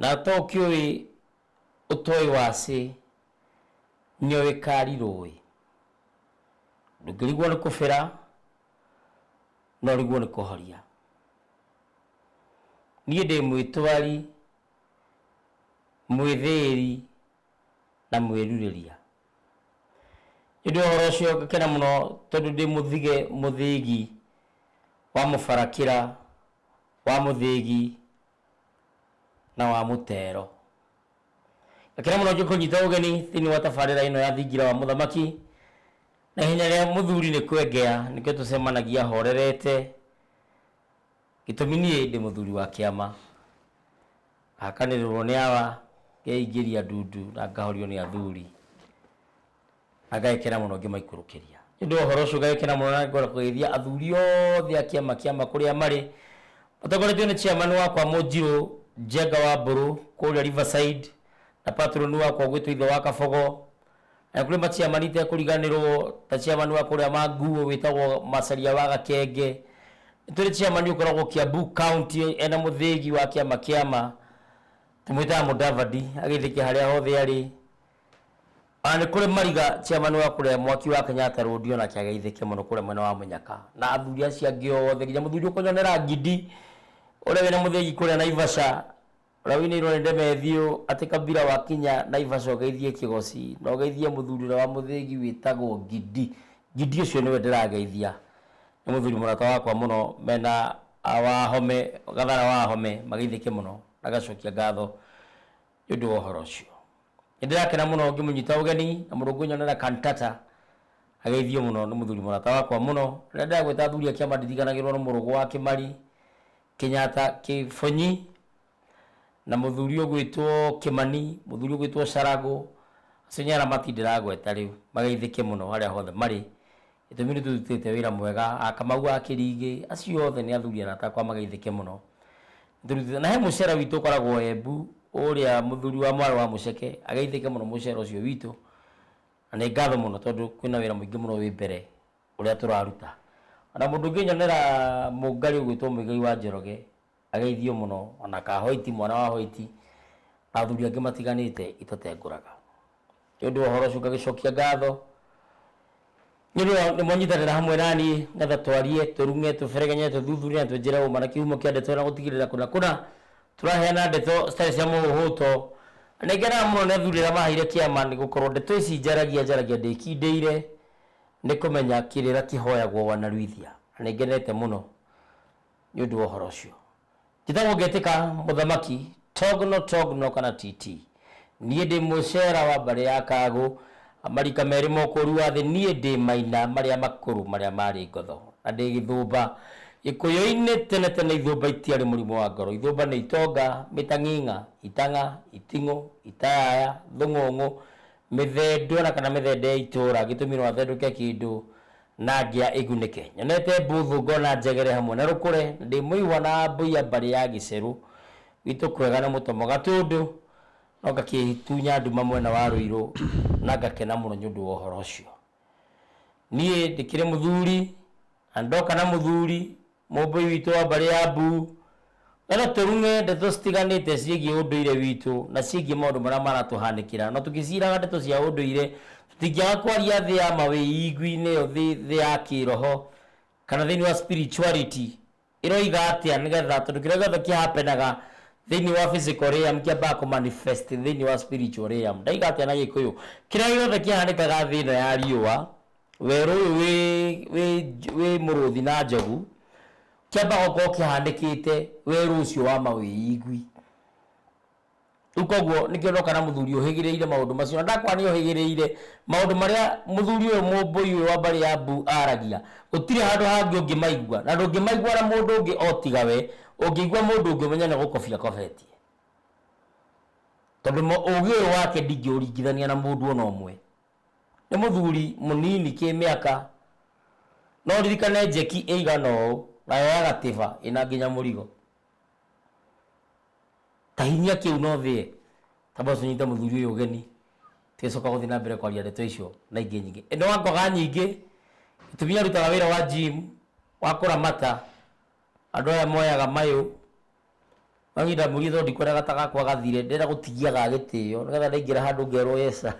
Na to ũkĩũĩ ũtoĩ wacĩ, nĩo wĩkarirũĩ. Ndũngĩrigwo nĩ kũbĩra, no ũrigwo nĩ kũhoria. Niĩ ndĩ mwĩtwari, mwĩthĩĩri, na mwĩrurĩria. Nĩ ũndũ wa ũhoro ũcio ngakena mũno tondũ ndĩ mũthige mũthĩgi wa mũbarakĩra wa mũthĩgi na wa mũtero. Gakena mũno njũke kũnyita ũgeni thĩinĩ wa tabarĩra ĩno ya thingira wa mũthamaki. Na ihenya rĩa mũthuri nĩ kwengea nĩkĩo tũcemanagia horerete, gĩtũmi niĩ ndĩ mũthuri wa kĩama. Hakanĩrĩrwo nĩ awa, ngeingĩria ndundu na ngahorio nĩ athuri. Agekena mũno ngĩmaikũrũkĩria. Nĩ ũndũ wa ũhoro ũcio ngagĩkena mũno na ngoreka kũgeithia athuri othe a kĩama kĩama kũrĩa marĩ, matongoretio nĩ chairman wakwa Mũnjirũ, Njenga wa Mbũrũ kũrĩa Riverside, na patron wakwa ũgwĩtwo Ithe wa Kabogo, na nĩ kũrĩ ma chairman itekũriganĩrwo ta chairman wa kũrĩa Manguũ wĩtagwo Macharia wa Gakenge. Nĩ tũrĩ chairman ũkoragwo Kiambu County ena mũthĩgi wa kĩama kĩama tũmwĩtaga Mũdavadi agĩthĩke harĩa hothe arĩ. Ona nĩ kũrĩ mariga chairman wa kũrĩa mwaki wa Kenyatta road ona kĩageithĩke mũno kũrĩa mwena wa mũnyaka na athuri acio angĩ othe nginya mũthuri ũkũnyonera ngindi ũrĩa wĩna mũthĩgi kũrĩa Naivasha ũrĩa wĩinĩirwo nĩ ndemethiũ atĩ kabira wakinya Naivasha ũgeithie kĩgoci na ũgeithie mũthuri ũrĩa wa mũthĩgi wĩtagwo ngindi ngindi ũcio nĩwe ndĩrageithia nĩ mũthuri mũrata wakwa mũno mena ah, wahome gathara wahome mageithĩke mũno na gacokia ngatho nĩ ũndũ wa ũhoro ũcio. Nĩ ndĩrakena mũno ngĩmũnyita ũgeni na mũrũngũ nyonera Cantata ageithio mũno nĩ mũthuri mũrata wakwa mũno rĩrĩa ndĩragwĩta athuri a kĩama ndiriganagĩrwo nĩ mũrũgũ wa Kĩmari Kĩnyata Kĩbonyi na mũthuri ũgwĩtwo Kĩmani mũthuri ũgwĩtwo Caragũ acio nĩ aramati ndĩragweta rĩu mageithĩke mũno harĩa hothe marĩ Gĩtũmi nĩ tũrutĩte wĩra mwega, a Kamau, a Kĩrigĩ, acio othe nĩ athuri arata akwa mageithĩke mũno. Nĩ tũrutĩte, na he mũcere witũ ũkoragwo Embu, ũrĩa mũthuri wa mwarĩ wa Mũceke, ageithĩke mũno mũcere ũcio witũ, na nĩ ngatho mũno tondũ kwĩna wĩra mũingĩ mũno wĩ mbere ũrĩa tũraruta. O na mũndũ ũngĩnyonera mũngari ũgwĩtwo Mũigai wa Njoroge, Ageithio mũno, o na Kahoiti, mwana wa Hoiti, na athuri angĩ matiganĩte, itũtengũraga. Nĩ ũndũ wa ũhoro ũcio ngagĩcokia ngatho, nĩ ũndũ wa nĩ mwanyitanĩra hamwe na niĩ, nĩgetha twarie, tũrume, tũberegenye, tũthuthurie na twĩnjĩre ũma na kĩhumo kĩa ndeto ĩyo na gũtigĩrĩra kũna kũna tũraheana ndeto citarĩ cia mũhũhũto. Na nĩ ngenaga mũno nĩ athuri arĩa maheire kĩama, nĩ gũkorwo ndeto ici njaragia njaragia ndĩkindĩire, nĩ kũmenya kĩrĩra kĩhoyagwo wanaruithia. Na nĩ ngenete mũno. Nĩ ũndũ wa ũhoro ũcio, njĩtagwo ngetĩka mũthamaki, Togno, Togno, kana TT. Niĩ ndĩ Mũcera wa mbarĩ ya Kagũ, marika merĩ ma ũkũũri wa thĩ, niĩ ndĩ Maina marĩa makũrũ marĩa maarĩ ngotho, na ndĩ Gĩthũmba. Gĩkũyũ-inĩ tene tene Ithũmba itiarĩ mũrimũ wa ngoro. Ithũmba nĩ itonga, mĩtang'ing'a, itang'a, iting'ũ, itayaya, thũng'ũng'ũ, mĩthendwa na kana mĩthende ya itũũra, gĩtũmi no athendũke kĩndũ, na ngĩa ĩgunĩke. Nyonete mbuthu ngona njegere hamwe na rũkũre, na ndĩ mũihwa na mbũiya mbarĩ ya gĩcerũ. Gwitũ kwega nĩ mũtomo gatũndũ, no ngakĩtunya nduma mwena wa Rũirũ na ngakena mũno nĩũndũ wa ũhoro ũcio. Niĩ ndĩkĩrĩ mũthuri na nĩndoka na mũthuri. Mũũmbĩi witũ wa mbarĩ ya Mbu, na no tũrume ndeto citiganĩte ciĩgiĩ ũndũire witũ na ciĩgiĩ maũndũ marĩa maratũhanĩkĩra. No tũgĩciraga ndeto cia ũndũire, tũtingĩaga kwaria thĩ ya ma wĩigwi-inĩ ĩyo thĩ thĩ ya kĩĩroho, kana thĩinĩ wa spirituality ĩroiga atĩa nĩ getha, tondũ kĩrĩa gĩothe kĩ happen aga thĩinĩ wa physical realm kĩambaga kũ manifest thĩinĩ wa spiritual realm. Ndaiga atĩa na gĩkũyũ? Kĩrĩa gĩothe kĩhanĩkaga thĩ ĩno ya riũa, Werũ ũyũ wĩ wĩ wĩ mũrũthi na njogu, kĩambaga gũkorwo kĩhanĩkĩte werũ ũcio wa mawĩigwi. Rĩu koguo nĩkĩo ndoka na mũthuri ũhĩgĩrĩire maũndũ macio, na ndakwĩra nĩ ohĩgĩrĩire, maũndũ marĩa mũthuri ũyũ mũmbũi ũyũ wa mbarĩ ya Mbu aragia, gũtirĩ handũ hangĩ ũngĩmaigua, na ndũngĩmaigua na mũndũ ũngĩ o tiga we, ũngĩigua mũndũ ũngĩ ũmenye nĩ gũkobia akobetie. Tondũ ũgĩ ũyũ wake ndingĩũringithania na mũndũ ona ũmwe. Nĩ mũthuri mũnini kĩmĩaka. No ũririkane njeki ĩigana ũũ, na yoyaga tĩba ĩna nginya mũrigo. Ta hinyia kĩu na ũthĩe, tamba ũcoke ũnyite mũthuri ũyũ ũgeni, tũgĩcoka gũthiĩ na mbere kwaria ndeto icio na ingĩ nyingĩ. Ĩno ngoga nyingĩ, gĩtumi arutaga wĩra wa gym, wa kũramata, Andũ aya moyaga mayũ, manyita mũriũ tondũ ndikwenda gata gakwa gathire, ndĩrenda gũtigia ga gĩtĩo, nĩgetha ndaingĩra handũ ngerwo Yesa.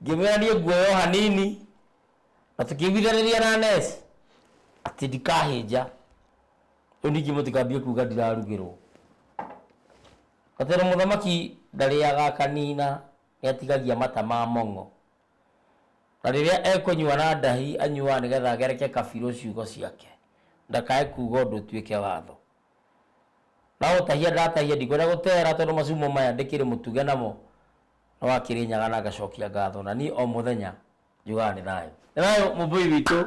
Ngĩmwĩra niĩ nguoya o hanini, na tũkĩiguithanĩria na Ness, atĩ ndikahĩnja. Rĩu ningĩ mũtikambie kuga ndirarugĩrwo. Gatero mũthamaki ndarĩaga akanina, nĩ atigagia mata ma mong'o. Na rĩrĩa ekũnyua na ndahi, anyuaga nĩ getha agereke Kabirũ ciugo ciake, ndakae kuuga ũndũ ũtuĩke watho. Na gũtahia ndatahia, ndikwenda gũtehera tondũ macumu maya ndĩkĩrĩ mũtuge namo, no akĩrĩ nyaga na ngacokia ngatho, na niĩ o mũthenya njugaga nĩ thayũ. Nĩ thayũ Mũmbũi witũ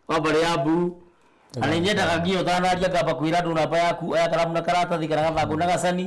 wa mbarĩ ya Mbuu, na nĩ nyendaga nginya ũtanaria ngamba kwĩra andũ namba yaku, oya karamu na karatathi kana gathangũ na gacani,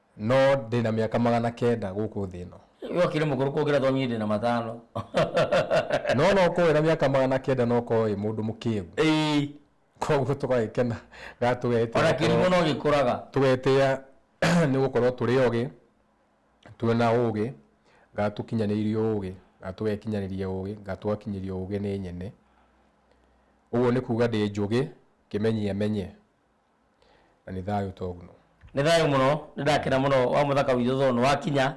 No ndĩ na mĩaka magana kenda gũkũ thĩ ĩno. Wee ũkĩrĩ mũkũrũ kũngĩra tondũ niĩ ndĩ na matano. No no ũkorwo wĩna mĩaka magana kenda na ũkorwo wĩ mũndũ mũkĩĩgu. Ĩĩ. Koguo tũgagĩkena ga tũgetĩĩa. O na kĩrimũ no gĩkũraga. Tũgetĩĩa nĩ gũkorwo tũrĩ ogĩ, twĩ na ũgĩ, ga tũkinyanĩirie ũgĩ, ga tũgekinyanĩria ũgĩ, ga tũgakinyĩrio ũgĩ nĩ nyene. Ũguo nĩ kuuga ndĩ njũgĩ, kĩmenyiamenye. na nĩ thayũ togno. Nĩ thayũ mũno, nĩ ndakena mũno wa mũthaka witũ tondũ nĩ wakinya.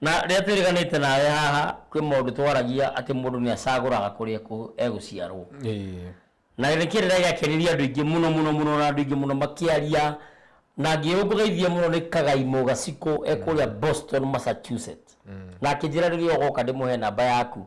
Na rĩrĩa twĩrĩganĩte nawe haha kwĩ maũndũ twaragia atĩ mũndũ nĩ acagũraga kũrĩa egũciarwo. Na nĩ kĩrĩra gĩakenirie andũ aingĩ mũno mũno mũno na andũ aingĩ mũno makĩaria. Na ngĩũngũgeithia mũno nĩ Kagai Mũgacikũ e kũrĩa Boston Massachusetts. Na akĩnjĩra rĩrĩa ũgoka ndĩmũhe namba yaku.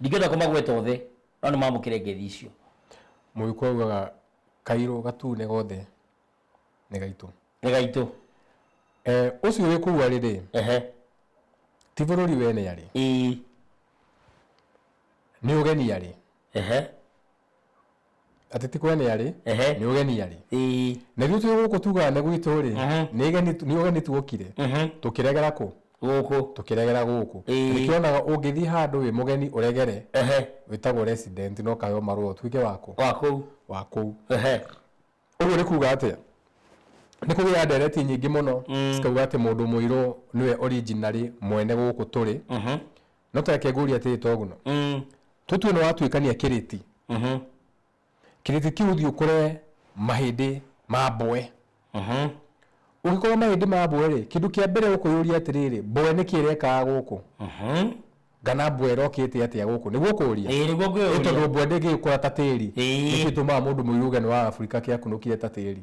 Ndingĩhota kũmagweta othe, no nĩmamũkĩre ngeithi icio. Mũgĩkũyũ augaga kairũ gatune gothe nĩ gaitũ. Nĩ gaitũ. Eh, ũcio wĩ kũu arĩ-rĩ, Ehe. ti bũrũri we nĩ arĩ, Ĩĩ. nĩ ũgeni arĩ. Ehe. atĩ ti kũgeni arĩ Ehe. nĩ ũgeni arĩ Ĩĩ. na ithuĩ twĩ gũkũ tugaga nĩ gwitũ rĩ Mhm. nĩ geni nĩ ũgeni tuokire Mhm. tũkĩregera kũ Gũkũ. tũkĩregera gũkũ Ĩĩ. Na nĩkĩo onaga ũngĩthiĩ handũ wĩ mũgeni ũregere Ehe. wĩtagwo resident no kayo marũa ũtuĩke wakũ Wa kũu. wa kũu Ehe. ũguo nĩ kuga atĩa nĩ kũgĩa ndereti nyingĩ mũno Mm. cikauga atĩ mũndũ mũirũ nĩwe originally mwene gũkũ tũrĩ Mhm. no tareke ngũrie atĩrĩ toguno Mm. tũtue nĩ watuĩkania kĩrĩti Mhm. kĩrĩti kĩu thiĩ ũkore mahĩndĩ ma mboe Mhm. ũngĩkorwo mahĩndĩ ma mboe rĩ kĩndũ kĩa mbere ũkũyũria atĩrĩrĩ mboe nĩ kĩrekaga gũkũ Mhm. kana mboe ĩrokĩte atĩa gũkũ nĩguo ũkũria Ĩĩ, nĩguo ngwĩũria. Nĩ tondũ mboe ndĩngĩkũra ta tĩri Ĩĩ. nĩkĩtũmaga mũndũ mũirũ ũgeni wa afurika kĩakunũkire ta tĩri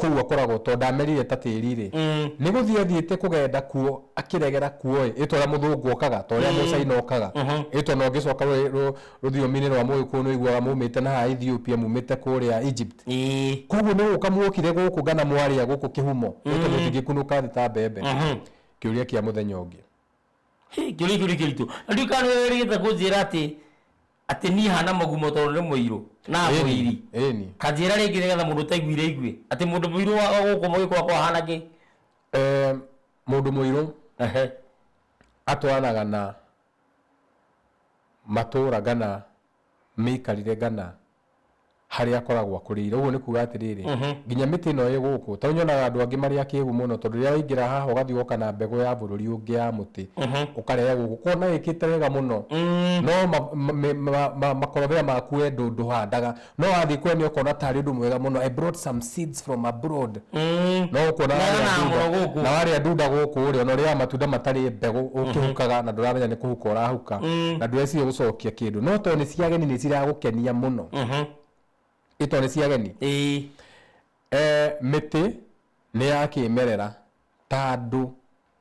kũu akoragwo tondũ ndamerire ta tĩri rĩ nĩ gũthiĩ athiĩte kũgenda kuo akĩregera kuo ĩ ĩtwa rĩa mũthũngũ okaga ta ũrĩa mũcaina okaga ĩtwa na ũngĩcoka rũ- rũ- rũthiomi-inĩ rwa mũgĩkũyũ nĩ ũiguaga mumĩte na haha Ethiopia mumĩte kũrĩa Egypt Ĩĩ. koguo nĩ gũka mwokire gũkũ ngana mwarĩa gũkũ kĩhumo ĩtwa mũtingĩkunũka thĩ ta mbembe kĩũria kĩa mũthenya ũngĩ Hĩ, kĩũria kĩu nĩ kĩritũ na ndiũ kana nĩwe wĩrĩgĩte kũnjĩra atĩ Atĩ niĩ haana mũgumo tondũ nĩ mũirũ? Na Ĩni, mũiri? ĩni. Ta njĩĩra rĩngĩ nĩgetha mũndũ ũtaiguire aigue. Atĩ mũndũ mũirũ wa o gũkũ mũgĩkũyũ akoragwo ahaana kĩ? Eh, mũndũ mũirũ Ehe. atwaranaga na matũũra kana mĩikarĩre kana harĩa akoragwo akũrĩire ũguo nĩ kuga atĩrĩrĩ nginya mĩtĩ ĩno ĩ gũkũ tondũ nyonaga andũ angĩ marĩ akĩgu mũno tondũ rĩrĩa waingĩra haha ũgathiĩ ũgoka na mbegũ ya bũrũri ũngĩ ya mũtĩ ũkarehe gũkũ kona ĩkĩte wega mũno no ma- ma- me- ma- ma- makorobia maku we ndũ- ndũhandaga no wathiĩ kwene ũkona tarĩ ũndũ mwega mũno I brought some seeds guests from abroad Mm. no ũkuona Na warĩa na ndunda- mũno gũkũ. na warĩa ndunda gũkũ rĩ ona ũrĩaga matunda matarĩ mbegũ ũkĩhukaga na ndũramenya nĩ kũhuka ũrahuka na ndũreciria gũcokia kĩndũ no tondũ nĩ cia ageni nĩ ciragũkenia mũno Mhm. ĩ tondũ nĩ cia ageni Ĩĩ. Eh, mĩtĩ nĩ ya kĩmerera ta andũ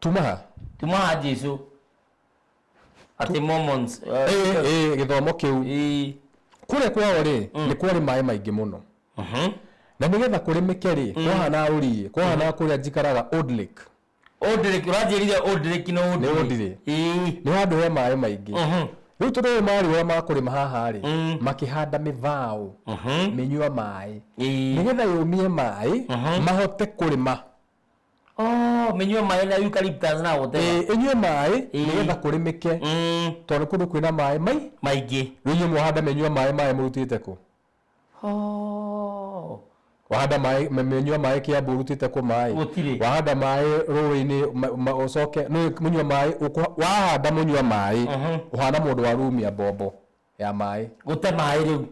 tumaha tumaha jesu atä momons uh, Ĩĩ, ĩĩ, gĩthomo kĩu ĩĩ. kũrĩa kwao rĩ nĩ kwarĩ maĩ maingĩ mũno Mhm. na nĩgetha kũrĩmĩke rĩ kwahana rũriĩ kwahana kũrĩa njikaraga Old Lake Old Lake, ũranjĩrire Old Lake na Old Nĩ Lake. Old Lake. Ĩĩ. nĩ handũ he maĩ maingĩ Mhm. rĩu tondũ ũyũ marĩ ũrĩa makũrĩma haha rĩ Mm. makĩhanda mĩbaũ Mhm. mĩnyua maĩ Ĩĩ. nĩgetha yũmie maĩ mahote kũrĩma Oh, mĩnyue maĩ na eucalyptus na gũtema Eh, ĩnyue maĩ Ĩĩ. nĩgetha kũrĩmĩke Mm, tondũ kũndũ kwĩna maĩ mai maingĩ rĩu inyuĩ mwahanda mĩnyua maĩ maĩ mũrutĩte kũ Oh. wahanda maĩ me- mĩnyua maĩ kĩambu ũrutĩte kũ maĩ Gũtirĩ. wahanda maĩ rũĩ-inĩ ma- ma- ũcoke nĩ mũnyua maĩ ũkũ- wahanda mũnyua maĩ Mhm. ũhana mũndũ wa rumia mbombo ya maĩ gũte maĩ rĩu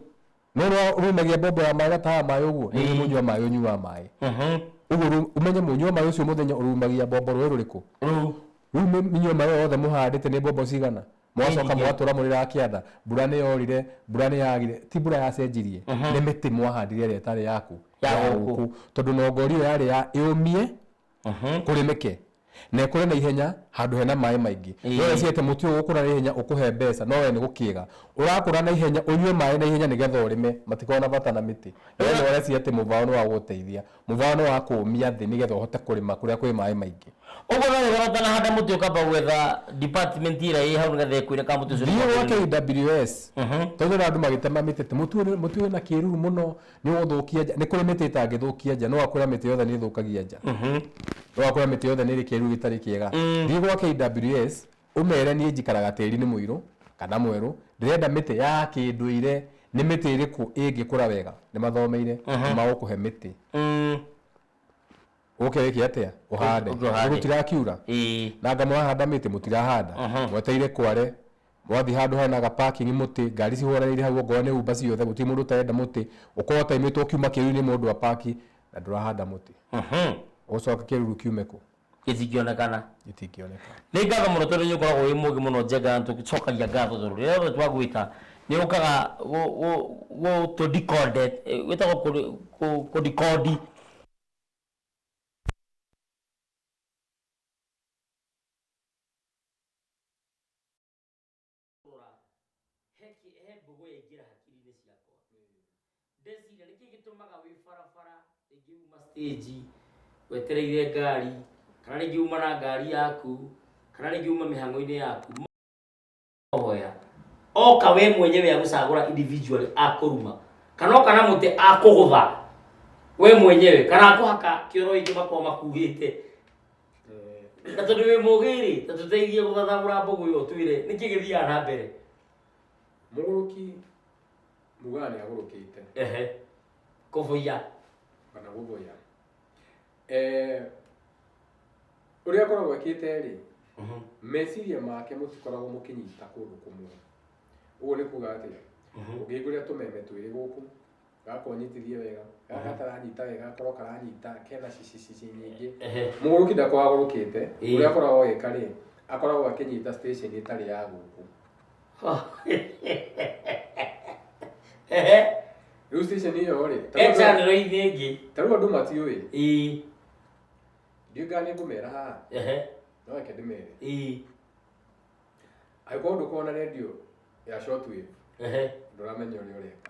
nona rumagia mbombo ya maĩ gataga maĩ ũguo nĩ Ĩĩ. mũnyua maĩ ũnyua maĩ Mhm. ũguo rĩu ũmenye mũnyua maĩ ũcio mũthenya ũrumagia mbombo rũĩ rũrĩkũ rĩu rĩu mĩ- mĩnyua maĩ ĩyo yothe mũhandĩte nĩ mbombo cigana mwacoka Nyingĩ. mũgatũra mũrĩraga kĩanda mbura nĩ yorire mbura nĩ yagire ti mbura yacenjirie nĩ mĩtĩ mwahandire ĩrĩa ĩtarĩ yaku Ya gũkũ. tondũ nongori ĩyo yarĩ ya ĩũmie kũrĩ mĩke na ĩkũre na ihenya handũ hena maĩ maingĩ Ĩĩ. no wecirie atĩ mũtĩ ũyũ ũkũra na ihenya ũkũhe mbeca no we nĩ gũkĩga ũrakũra na ihenya ũnyue maĩ na ihenya nĩgetha ũrĩme matikoragwo na bata na mĩtĩ no we nĩ ũreciria atĩ mũbaũ nĩ wa gũgũteithia mũbaũ nĩ wa kũũmia thĩ nĩgetha ũhote kũrĩma kũrĩa kwĩ maĩ maingĩ Ũguo no wĩhoro ũtanahanda mũtĩ ũkamba gwetha department ĩrĩa ĩ hau nĩgetha ĩkwĩre kana mũtĩ ũcio nĩ thiĩ mwagĩrĩru. gwake KWS tondũ na andũ magĩtema mĩtĩ atĩ mũtĩ ũyũ nĩ- mũtĩ ũyũ wĩna kĩruru mũno nĩ ũgũthũkia nja nĩ kũrĩ mĩtĩ ĩtangĩthũkia nja no akwĩra mĩtĩ yothe nĩ ĩthũkagia nja no akwĩra mĩtĩ yothe nĩ ĩrĩ kĩruru gĩtarĩ kĩega thiĩ gwa KWS ũmere niĩ njikaraga tĩri-inĩ mũirũ kana mwerũ ndĩrenda mĩtĩ ya kĩndũire nĩ mĩtĩ ĩrĩkũ ĩngĩkũra wega nĩ mathomeire nĩ magũkũhe mĩtĩ ũke wĩke atĩa ũhande Ũke ũhande. tondũ tirakiura Ĩĩ. na anga mũrahanda mĩtĩ mũtirahanda Mhm. mweteire kware mwathi handå hena ga parking mũtĩ ngari cihũranĩire hau okorwo nĩ umba ciothe gũtirĩ mũndũ ũtarenda mũtĩ ũkorwo ũtaimitwo ũkiuma kĩruru-inĩ mũndũ apaki na ndũrahanda mũtĩ Mhm. ũgũcoka kĩruru kiume kũ gĩtingĩonekana gĩtingĩoneka nĩ ngatho mũno tondũ nĩ ũkoragwo wĩ mũgĩ mũno njenga tũcokagia ngatho tondũ rĩrĩa rĩothe twagwĩta nĩ ũkaga gũtũ wĩtagwo kũ- kũ- kũdikondi rora heki he mbogo yaingĩra hakiri-inĩ ciakwa ndeciria nĩkĩ gĩtũmaga wĩ barabara rĩngĩ uma stage wetereire ngari kana rĩngĩ uma na ngari yaku kana rĩngĩ uma mĩhang'o-inĩ yaku hoya oka we mwenyewe agũcagũra individually akũruma kana oka na mũtĩ akũgũtha we mwenyewe kana akũhaka kĩoro ingĩ makorwo makuhĩte Eh, na tondũ wĩ mũgĩrĩ na tũteithie gũthathagũra mbũgũ ĩyo twĩre nĩkĩ gĩthiaga na mbere mũgũrũki mugaga nĩ agũrũkĩte ehe kũbũiya kana gũthũya Eh, ũrĩa akoragwo ekĩte rĩ mhm. meciria make mũtikoragwo mũkĩnyita kũndũ kũmwe ũguo nĩ kuga atĩ mhm. ũngĩhingũrĩra tũmeme twĩrĩ gũkũ gakorwo nyitithie wega gaka mhm. karanyita wega gakorwo karanyita kena cicicici nyingĩ mũgũrũki ndakoragwo agũrũkĩte ũrĩa akoragwo agĩka rĩ akoragwo akĩnyita station ĩtarĩ ya gũkũ rĩu station ĩyo rĩ ta rĩu andũ- echanĩro-inĩ ĩngĩ ta rĩu andũ matiũĩ ĩĩ ndiũĩ kana nĩngũmera haha ehe no reke ndĩmere ĩĩ angĩkorwo ndũkorwo na redio ya shortwave ehe ndũramenya ũrĩa ũreka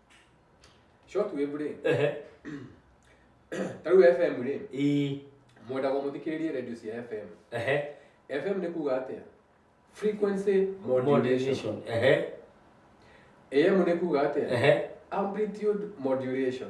short wave rĩ ehe ta rĩu fm rĩ ii mwendaga mũthikĩrĩrie radio cia fm ehe fm nĩ kuga atĩa frequency modulation modulation ehe am nĩ kuga atĩa ehe amplitude modulation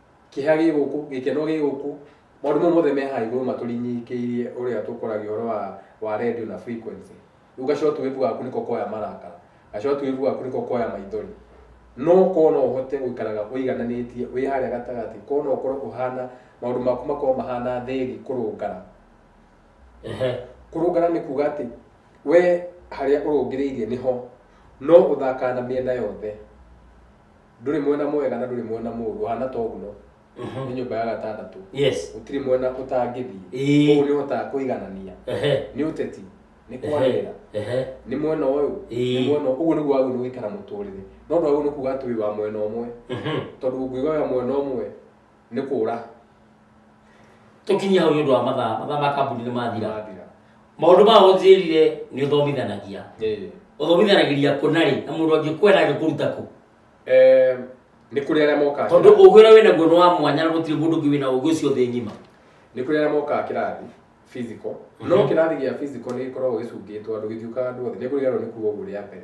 Kĩeha gĩ gũkũ, gĩkeno gĩ gũkũ, maũndũ mau mothe me haha igũrũ matũrinyikĩirie ũrĩa tũkũragia ũhoro wa, wa radio na frequency. Rĩu gacotuĩbu gaku nĩko koya marakara, gacotuĩbu gaku nĩko koya maithori. No korwo no ũhote gũikaraga ũigananĩtie, wĩ harĩa gatagatĩ, korwo no ũkorwo ũhana, maũndũ maku makorwo mahana thĩri kũrũngana. Ehe. Kũrũngana nĩ kuga atĩ, we harĩa ũrũngĩrĩirie nĩho, no ũthakaga na mĩena yothe. ndũrĩ mwena mwega na ndũrĩ mwena mũũru hana toguo nĩ nyũmba ya gatandatũ yes gũtirĩ mwena ũtangĩthiĩ Ĩĩ. koguo nĩ ũhotaga kũiganania ehe nĩ ũteti nĩ kwarĩra ehe nĩ mwena ũyũ Ĩĩ. nĩ mwena ũguo nĩguo wagĩrĩirwo nĩ gũikara mũtũrĩre no ndwagĩrĩirwo nĩ kuga atĩ wĩ wa mwena ũmwe Mhm. tondũ ũngĩuga wĩ wa mwena ũmwe nĩ kũra tũkinyie hau nĩ ũndũ wa mathaa mathaa ma kambuni nĩ mathira mathira maũndũ ma ũnjĩrire nĩ ũthomithanagia Ĩĩ. ũthomithanagĩria kũ na rĩ na mũndũ angĩkwenda angĩkũruta kũ Eh, nĩ kũrĩ arĩa mokaga tondũ kĩrathi. ũgĩ ũrĩa wĩnaguo nĩ wa mwanya na gũtirĩ mũndũ ũngĩ wĩna ũgĩ ũcio thĩ ng'ima nĩ kũrĩ arĩa mokaga kĩrathi physical no Mhm. kĩrathi gĩa physical nĩ gĩkoragwo gĩcungĩtwo andũ gĩthiũkaga andũ othe nĩ kũriganwo nĩ kuga ũguo rĩa mbere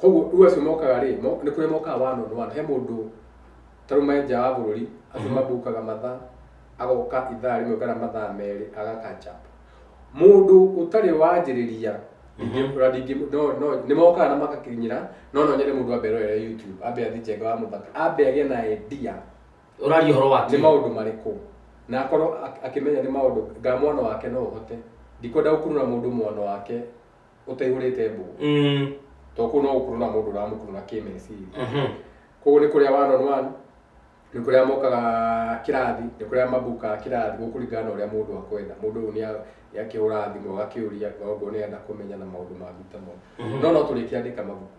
koguo rĩu acio mokaga rĩ mo- nĩ kũrĩ mokaga one on one he mũndũ tarume nja wa bũrũri andũ mabukaga mathaa agoka ithaa rĩmwe kana mathaa merĩ agakanja mũndũ ũtarĩ wanjĩrĩria ndingĩ- ũra- ndingĩ- no- no- nĩ mokaga na magakinyĩra no no nyende mũndũ ambe erorere youtube ambe athi njenga wa mũthaka ambe agĩe na idea ũraria ũhoro nĩ wake maũndũ marĩkũ na akorwo ak- akĩmenya nĩ maũndũ nga mwana wake no ũhote ndikwenda gũkurura mũndũ mwana wake ũtaihũrĩte mbũgũ Mm. to kũu no gũkuruna mũndũ ũramũkuruna kĩmeciria Mhm. kũu nĩ kũrĩa one on one nĩ kũrĩa mokaga kĩrathi nĩ kũrĩa mabukaga kĩrathi gũkũringana na ũrĩa mũndũ akwenda mũndũ ũyũ nĩa- nĩakĩhũraga thimũ agakĩũria maũndũ ũrĩa arenda kũmenya na maũndũ mangĩ ta mau no no tũrĩkĩandĩka mabuku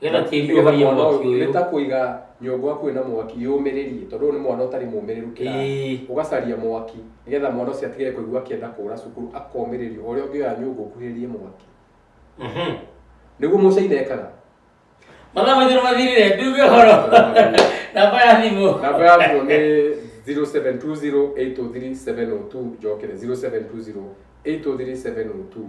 Getha tĩri nĩgetha ũhorie mwana mwaki ũyũ nĩ ũyũ. ta kũiga nyũngũ hakuhĩ na mwaki yũmĩrĩrie tondũ ũyũ nĩ mwana ũtarĩ mũmĩrĩru kĩrathi Ĩĩ. ũgacaria mwaki nĩgetha mwana ũcio atige kũigua akĩenda kũra cukuru akomĩrĩrio ũrĩa ũngĩoya nyũngũ ũkuhĩrĩrie mwaki Mhm. nĩguo mũcaina ekaga Mathaa maitũ nĩ mathirire, nduge ũhoro. Namba ya thimũ. namba ya thimũ nĩ 0720803702 njokere 0720803702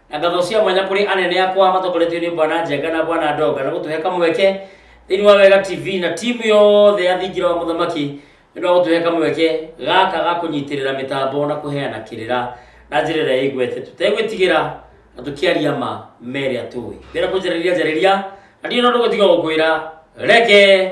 na ngatho cia mwanya kũrĩ anene akwa matongoretio nĩ bwana njenga na bwana ndonga na gũtũhe kamweke thĩinĩ wa wega tv na timu yothe ya thingira wa mũthamaki nĩ ũndũ wa gũtũhe kamweke gaka ga kũnyitĩrĩra mĩtambo na kũheana kĩrĩra na njĩra ĩrĩa ĩgwete tũtegwĩtigĩra na tũkĩaria ma merĩa tũĩ mbere kũnjarĩria njarĩria na ndirĩ na ũndũ gũtiga gũkwĩra reke